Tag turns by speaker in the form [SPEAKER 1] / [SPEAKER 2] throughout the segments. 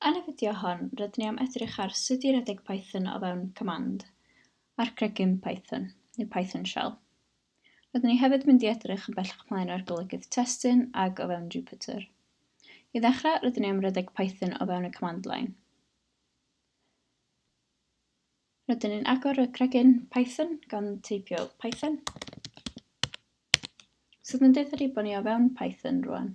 [SPEAKER 1] Yn y fideo hon, rydyn ni am edrych ar sut i redeg Python o fewn command, a'r cregyn Python, neu Python shell. Rydyn ni hefyd mynd i edrych yn bellach ymlaen ar golygydd testun ag o fewn Jupyter. I ddechrau, rydyn ni am redeg Python o fewn y command line. Rydyn ni'n agor y cregyn Python gan teipio Python. Sydd yn deutha ni bod ni o fewn Python rwan.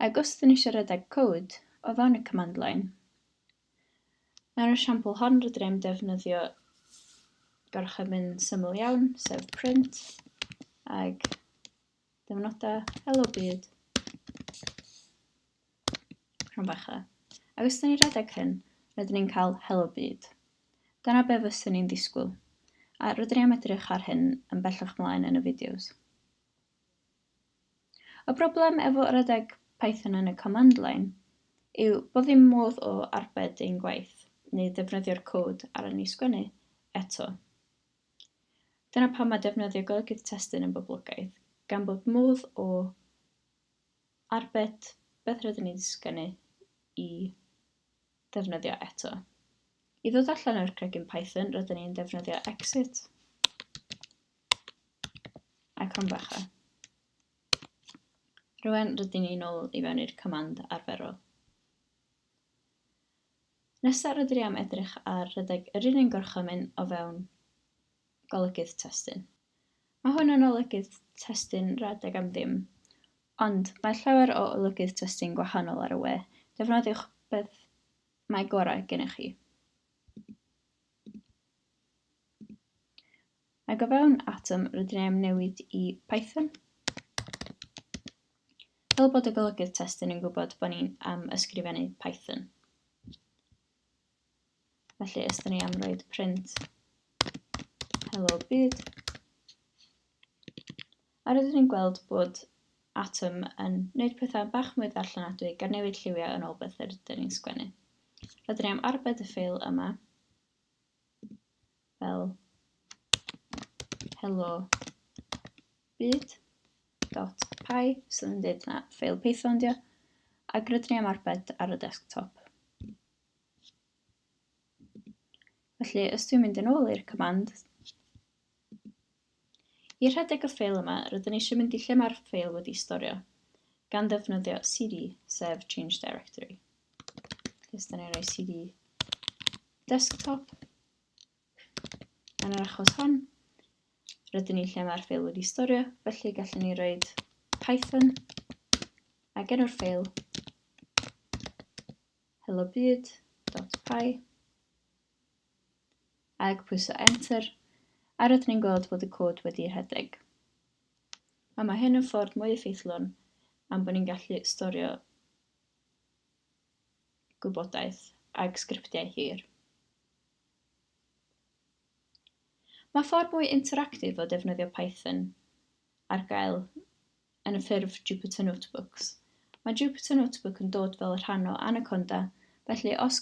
[SPEAKER 1] Ac os dyn ni eisiau redeg cod o fewn y command line, mewn esiampl hon rydyn ni'n defnyddio gorchymyn syml iawn, sef print, ac Dim nodau. Helo byd. Rhan bach dda. Ac os ydyn ni redeg hyn, rydyn ni'n cael helo byd. Dyna be fyswn ni'n disgwyl. A rydyn ni am edrych ar hyn yn bellach mlaen yn y fideos. Y broblem efo redeg Python yn y command line yw bod ddim modd o arbed ein gwaith neu ddefnyddio'r cod ar yn ni sgwennu eto. Dyna pam mae defnyddio golygydd testun yn boblogaidd, gan bod modd o arbed beth rydyn ni'n sgynnu i ddefnyddio eto. I ddod allan o'r cregyn Python, rydyn ni'n defnyddio exit a crombacha. Rwy'n rydyn ni'n ôl i fewn i'r command arferol. Nesa rydyn ni am edrych ar rhedeg yr un un gorchymyn o fewn golygydd testun. Mae hwn yn olygydd testun rhedeg am ddim, ond mae llawer o olygydd testun gwahanol ar y we, defnyddiwch beth mae gorau gennych chi. Ac o fewn Atom rydyn ni am newid i Python fel bod y golygydd testun yn gwybod bod ni'n am ysgrifennu Python. Felly ysdyn ni am roed print hello byd. A rydyn ni'n gweld bod Atom yn gwneud pethau bach mwy ddarllenadwy gan newid lliwiau yn ôl beth yr ydyn ni'n sgwennu. Rydyn ni am arbed y ffeil yma fel hello byd.py sydd yn dweud na ffeil Python dio ac rydyn ni am arbed ar y desktop. Felly, os dwi'n mynd yn ôl i'r command, I rhedeg y ffeil yma, rydyn ni eisiau mynd i lle mae'r ffeil wedi'i storio, gan ddefnyddio cd, sef change directory. Felly, da ni'n rhoi cd desktop, yn yr achos hon, rydyn ni lle mae'r ffeil wedi'i storio, felly gallwn ni roi Python a genw'r ffeil hellobyd.py Ag pwyso enter, a rydyn ni'n gweld bod y cod wedi rhedeg. A mae hyn yn ffordd mwy effeithlon am bod ni'n gallu storio gwybodaeth ag sgriptiau hir. Mae ffordd mwy interactif o defnyddio Python ar gael yn y ffurf Jupyter Notebooks. Mae Jupyter Notebook yn dod fel rhan o Anaconda, felly os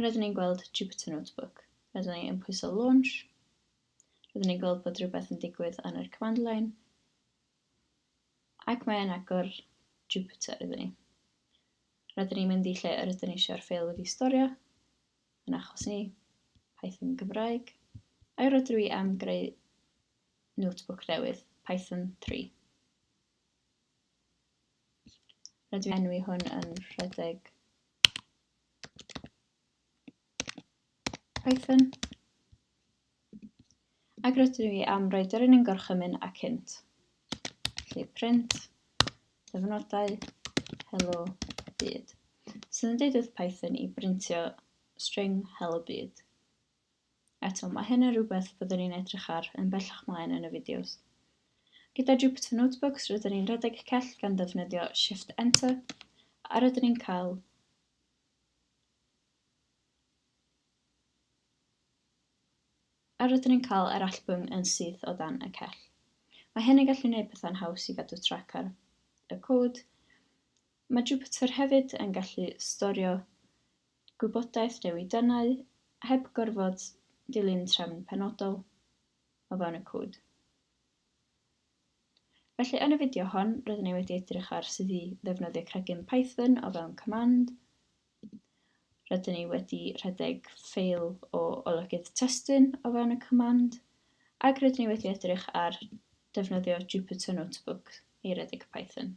[SPEAKER 1] A rydyn ni'n gweld Jupyter Notebook. Rydyn ni'n pwyso launch. Rydyn ni'n gweld bod rhywbeth yn digwydd yn yr command line. Ac mae'n agor Jupyter iddyn ni. Rydyn ni'n mynd i lle yr ydyn ni eisiau'r ffeil wedi storio, yn achos ni, Python Gymraeg, a'i rydw i am greu notebook newydd, Python 3. Rydw i enwi hwn yn rhedeg Python. Ac rydw i am roi dyrun yn gorchymyn ac hint. Lle print, dyfnodau, hello, byd. Sydd yn deud wrth Python i brintio string hello byd. Eto, mae hyn yn rhywbeth byddwn ni'n edrych ar yn bellach mlaen yn y fideos. Gyda Jupyter Notebooks, rydyn ni'n rhedeg y cell gan ddefnyddio Shift Enter, a rydyn ni'n cael A rydyn ni'n cael yr allbwn yn syth o dan y cell. Mae hyn yn gallu gwneud pethau'n haws i gadw trac ar y cod. Mae Jupyter hefyd yn gallu storio gwybodaeth newidennau heb gorfod dilyn trefn penodol o fewn y cod. Felly, yn y fideo hon, rydyn ni wedi edrych ar sut i ddefnyddio cregyn Python o fewn command. Rydyn ni wedi rhedeg ffeil o olygydd testun o fewn y command, ac rydyn ni wedi edrych ar defnyddio Jupyter Notebook i redeg Python.